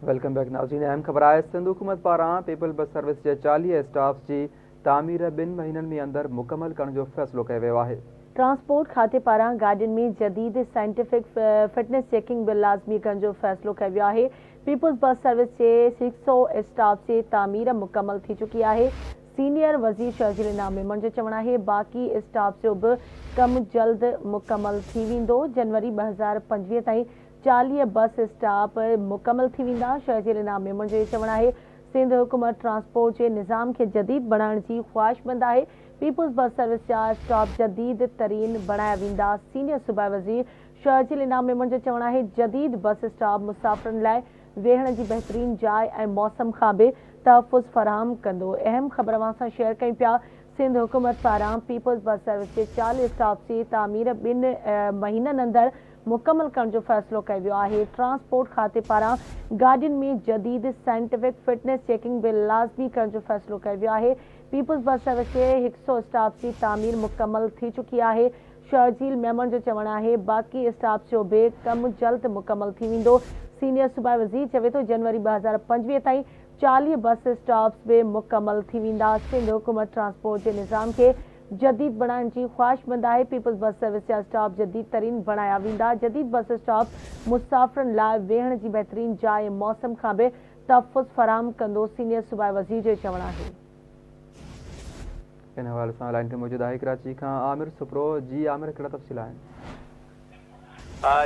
Welcome back ناظرين اهم خبر آهي سنڌ حڪومت پاران پيپلز بس سروس جي چاليهه اسٽاپس جي تعمير ٻن مهينن ۾ اندر مڪمل ڪرڻ جو فيصلو ڪيو ويو آهي. ٽرانسپورٽ کاتي پاران گاڏين ۾ جديد سائنٽيفڪ فٽنس چيڪنگ به لازمي ڪرڻ جو فيصلو ڪيو ويو آهي پيپلز بس سروس جي هڪ سؤ اسٽاپس جي تعمير مڪمل ٿي چڪي آهي سينيئر وزير شرجيل انعام ميمڻ جو چوڻ آهي باقي اسٽاپس جو به ڪم جلد مڪمل ٿي ويندو جنوري ٻه هزار پنجويهه تائين چاليهه بس اسٽاپ مڪمل ٿي ويندا، شهزير انعام ميمڻ جو اهي چوڻ آهي، سنڌ حڪومت ٽرانسپورٽ جي نظام کي جديد بڻائڻ جي خواهشمند آهي، پيپلز بس سروس جا اسٽاپ جديد ترين بڻايا ويندا، سينيئر صوبائي وزير شهزيل انعام ميمڻ جو چوڻ آهي، جديد بس اسٽاپ مسافرن لاء ويهڻ جي بهترين جاء ۽ موسم کان به تحفظ فراهم ڪندو، اهم خبر اوهان سان شيئر ڪيون پيا، سنڌ حڪومت پاران پيپلز بس سروس جي چاليهه اسٽاپس جي تعمير ٻن مهينن اندر مڪمل ڪرڻ جو فيصلو ڪيو ويو آهي، ٽرانسپورٽ کاتي پاران گاڏين ۾ جديد سائنٽفڪ فٽنس چيڪنگ به لازمي ڪرڻ جو فيصلو ڪيو ويو آهي، پيپلز بس سروس جي هڪ سؤ اسٽاپس جي تعمير مڪمل ٿي چڪي آهي، شرجيل ميمڻ جو چوڻ آهي باقي اسٽاپس جو به ڪم جلد مڪمل ٿي ويندو، سينيئر صوبائي وزير چوي ٿو جنوري ٻه هزار پنجويهه تائين چاليهه بس اسٽاپس به مڪمل ٿي ويندا، سنڌ حڪومت ٽرانسپورٽ جي نظام کي جديد بڻائڻ جي خواهشمند آهي، پيپلز بس سروس جا اسٽاپ جديد ترين بڻايا ويندا، جديد بس اسٽاپ مسافرن لاء ويهڻ جي بهترين جاء ۽ موسم کان به تحفظ فراهم ڪندو، سينيئر صوبائي وزير جو چوڻ آهي. ان حوالي سان لائن تي موجود آهي ڪراچي کان عامر سپرو، جي عامر ڪهڙا تفصيل آهن؟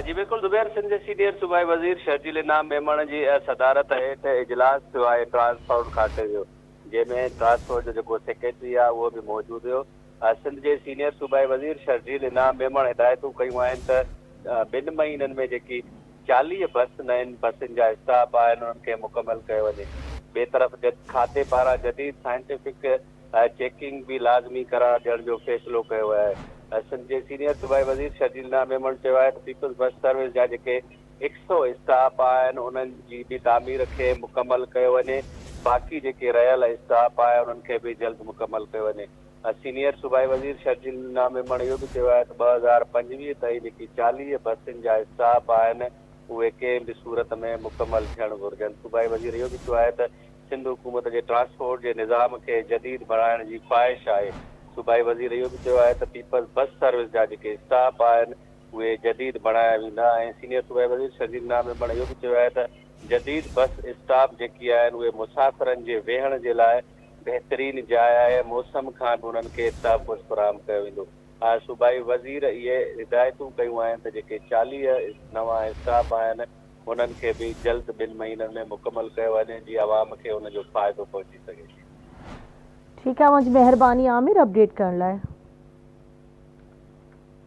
جي بلڪل زبير، سنڌ جي سينيئر صوبائي وزير شرجيل انعام ميمڻ جي صدارت هيٺ اجلاس ٿيو آهي، ٽرانسپورٽ کاتي جو. جنهن ۾ ٽرانسڪور جو جيڪو سيڪريٽري آهي اهو به موجود هيو. سنڌ جي سينيئر صوبائي وزير شرجيل انعام ميمڻ هدايتون ڪيون آهن ته ٻن مهينن ۾ جيڪي چاليهه بس نين بسين جا اسٽاپ آهن انهن کي مڪمل ڪيو وڃي. ٻئي طرف کاتي پاران جديد سائنٽيفڪ چيڪنگ به لازمي قرار ڏيڻ جو فيصلو ڪيو ويو آهي. سنڌ جي سينيئر صوبائي وزير شرجيل انعام ميمڻ چيو آهي ته پيپلز بس سروس جا جيڪي هڪ سؤ اسٽاپ آهن انهن جي به تعمير کي مڪمل ڪيو وڃي باقي جيڪي رهيل اسٽاپ آهي انهن کي به جلد مڪمل ڪيو وڃي سينيئر صوبائي وزير شرجيل نينا ميمڻ اهو به چيو آهي ته ٻه هزار پنجويهه تائين جيڪي چاليهه بسين جا اسٽاپ آهن اهي ڪنهن به صورت ۾ مڪمل ٿيڻ گهرجن صوبائي وزير اهو به چيو آهي ته سنڌ حڪومت جي ٽرانسپورٽ جي نظام کي جديد بڻائڻ جي خواهش آهي صوبائي وزير اهو به چيو آهي ته پيپلز بس سروس جا جيڪي اسٽاپ آهن اهي جديد بڻايا ويندا ۽ سينيئر صوبائي وزير شرجيل نامي بڻ اهو به چيو آهي ته جديد بس اسٽاپ جيڪي آهن اهي مسافرن جي ويهڻ جي لاء بهترين جاء آهي، موسم کان به انهن کي تحفظ فراهم ڪيو ويندو آهي، صوبائي وزير اهي هدايتون ڪيون آهن ته جيڪي چاليهه نوان اسٽاپ آهن انهن کي به جلد ٻن مهينن ۾ مڪمل ڪيو وڃي جي عوام کي ان جو فائدو پهچي سگهي. ٺيڪ آ منجھ مهرباني عامر اپڊيٽ ڪرڻ لاء.